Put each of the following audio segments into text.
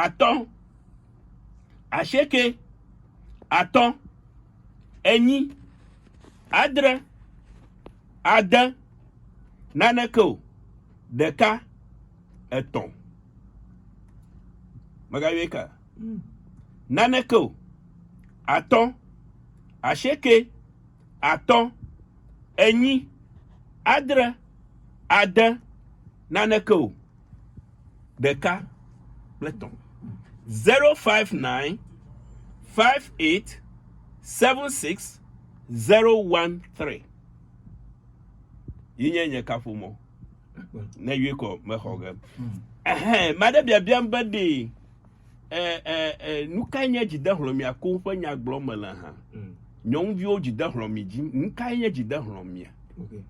atɔ̃, asieke, atɔ̃, enyi, adre, ade, naneke o, ɖeka, etɔ̃. Mègayɔe ka? Hmm. Naneke o, atɔ̃, asieke, atɔ̃, enyi, adre, ade, naneke o, ɖeka kple tɔ̃. Zero five nine five eight seven six zero one three. Yi nye nye kaƒomɔ. Ne yui kɔ mexɔ ge. Ɛhɛn, maɖe biabiam be ɖee. e, e, e, nu kae nye dzidehlɔ̃mia ko ƒe nya gblɔm mele hã. Mm. Nyɔnuviwo dzidehlɔ̃mi dzi, nu kae nye dzidehlɔ̃mia? Okay.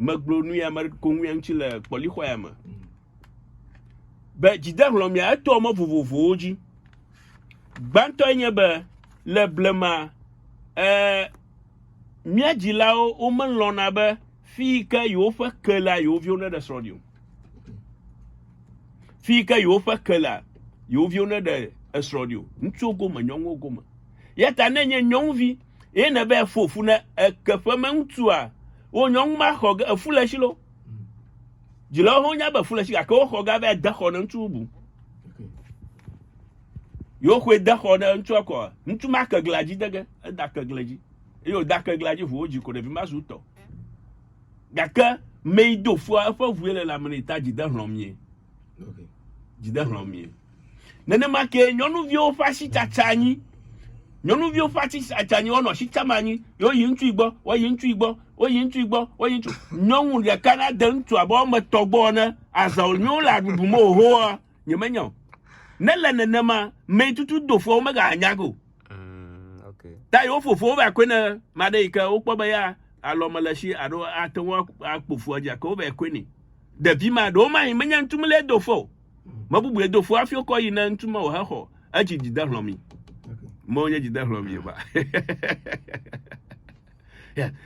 Megblɔ nu ya me ko ŋuya ŋuti le kpɔlixɔya me. Mm. Be dzidehlɔ̃mia etɔ mɔ vovovowo dzi. Gbãtɔe nye be le blema e, mía dzilawo womelɔ̃na be fi yi ke yewoƒe ke la yewoviwo neɖe srɔ̃ ɖi o. fi yi ke yewoƒe ke lea yewo viwo ne ɖe esrɔ̃ ɖi o ŋutsuwo gome nyɔnuwo gome ya ta ne nye nyɔnuvi ye ne be efo fu ne eke ƒe me ŋutsua wo nyɔnu ma xɔ ge efu le si lo dzilawo ho nya be efu le si gake wo xɔ ge be ade xɔ ne ŋutsu bubu yewo xɔe de xɔ ne ŋutsua kɔ ŋutsu ma ke gla dzi de ge eda ke gla dzi eye woda ke gla dzi ʋuwo dzi ko ɖevi ma zu tɔ Gake mei do fua eƒe ʋue le lãme nɛ ta dzi de hlɔ̃m ye. Okay. Dzi de hlɔ̃m ye. Nenema ke nyɔnuviwo ƒe asitsatsa anyi. Nyɔnuviwo ƒe asitsatsa anyi wɔnɔ asitsam anyi. Yewo yi ŋutsu gbɔ, woyi ŋutsu gbɔ, woyi ŋutsu gbɔ, woyi ŋutsu. Nyɔnu ɖeka na de ŋutsu abe wɔme etɔ̃ gbɔ ne azɔ nyɔnu le aɖuɖu me ohoa. Nyemenya o. Ne le nenema, mɛ tutu dofoa wo mega anya go. Mm, okay. Ta yo fofo va kwe ne made yi ke wokpɔ be ya alɔ me le shi alo ate ŋu akpo foa dzi ake wo va kwe ni. Ɖevi ma ɖewo ma yi menya ŋutu mele do fo. Me bubu ye do fo afi kɔ yi ne ŋutu ma wo he xɔ. Etsi dzi de hlɔ mi. Mɔ wonye dzi de hlɔ mi ba.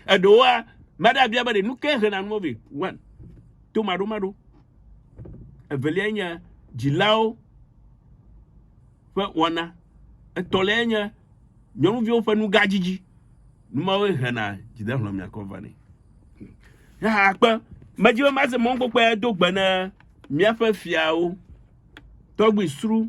Eɖewoa, mada bia be ɖe nu ke hena nu mo vi. One. to maɖomaɖo. Evelia nye dzilawo ƒe wɔna. Etɔ̃lia nye nyɔnuviwo ƒe nugadzidzi. Numawoe hena dzidehlɔ̃ miakɔ vanɛ. Yaha akpe medzi be maze mɔnkpɔkpɔe do gbe ne míaƒe fiawo tɔgbi sru